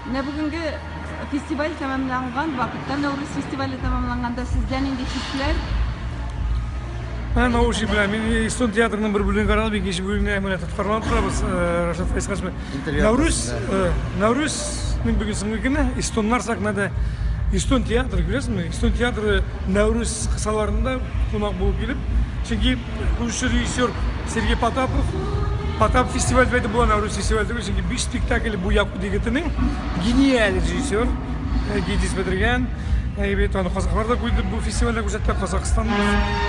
Менә бүгенге фестиваль тәмамланган вакытта, Нәүрүз фестивале тәмамланганда сездә нинди хисләр? Ә научи белән мин Истон театрының бер бүлеген карадым, икенче бүлегенә менә тоткарланып торабыз. Рашат Файскаш белән. Нәүрүз, Нәүрүзнең бүген соңгы көне, Истоннар сәхнәдә. Истон театры, күрәсезме? Истон театры Нәүрүз кысаларында кунак булып килеп, чөнки Күрше режиссер Сергей Потапов. Потап фестиваль бәйді бұл ана рус фестиваль түгел, чөнки биш спектакль бу яку дигетенең гениаль режиссер э, Гидис бетергән. Э, бит аны казаклар да күрде бу фестивальдә күрсәтте, Казакстан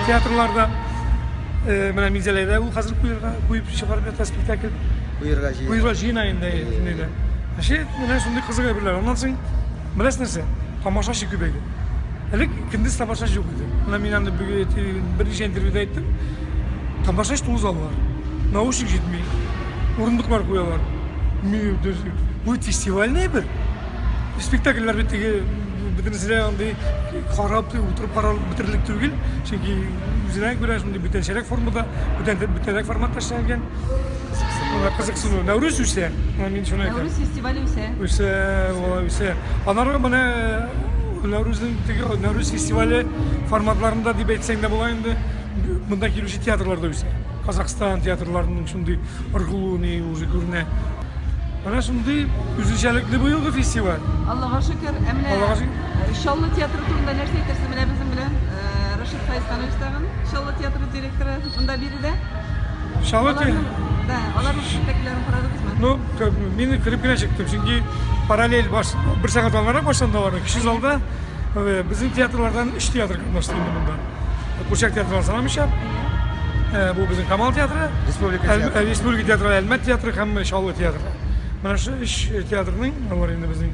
театрларда. Э, менә Минзәләдә ул хәзер куерга куеп чыгарып ята спектакль. Куерга җыена. Куерга җыена инде. Шәт, менә шундый кызык әйберләр. Аннан соң Беләсез нәрсә? Тамашачы күбәйде. Элек көндез тамашачы юк иде. Менә мин аны берничә интервьюда әйттем. Тамашач тулы заллар. Наушник җитми. Урындыклар куялар. Бу фестивальный бер. Спектакльләр бит теге бөтенесе дә андый карап утырып карап бетерерлек түгел. Чөнки үзенә күрә шундый бүтәнчәрәк формада, бүтәнрәк форматта эшләнгән. Кызыксыну. Кызыксыну. Нәүрүз үсә. Мин шуны әйтәм. фестивале үсә. Үсә, алай үсә. Аннары менә Нәүрүзнең теге Нәүрүз фестивале форматларында дип әйтсәң дә була инде. Монда килүче театрлар да үсә. Казахстан театрларының шундый ыргылуыны уже күренә. Менә шундый үзенчәлекле быелгы фестиваль. Аллага шөкер. Ә менә Аллага шөкер. Чаллы театры турында нәрсә әйтерсең? Менә безнең белән Рашид Фәйсханович тагын Чаллы театры директоры. Шунда биредә? Шалоте? Да, аларның спектакльләрен карадыгызмы? Ну, мин кереп кенә чыктым, чөнки параллель баш, бер сәгать алгарак башланды аларның. Кече залда э, безнең театрлардан өч театр катнашты инде монда. Курчак театры санамыйча, э, бу безнең Камал театры, республика театры, э, республика театры, Әлмәт театры һәм Чаллы театры. Менә шу өч театрның алар инде безнең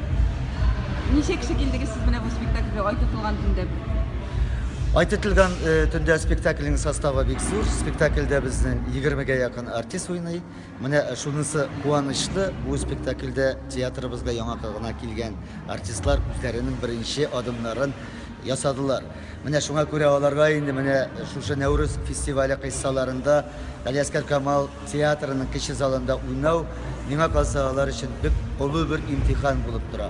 Ничә кеше килдегез сез менә бу спектакльгә ай тотылган төндә? Ай тотылган э, төндә спектакльнең составы бик зур. Спектакльдә безнең 20-гә якын артист уйный. Менә шунысы куанычлы, бу спектакльдә театрыбызга яңа гына килгән артистлар үзләренең беренче адымнарын ясадылар. Менә шуңа күрә аларга инде менә шушы Нәүрүз фестивале кыйссаларында Алиаскар Камал Театрының кече залында уйнау, миңа калса, алар өчен бик олы бер имтихан булып тора.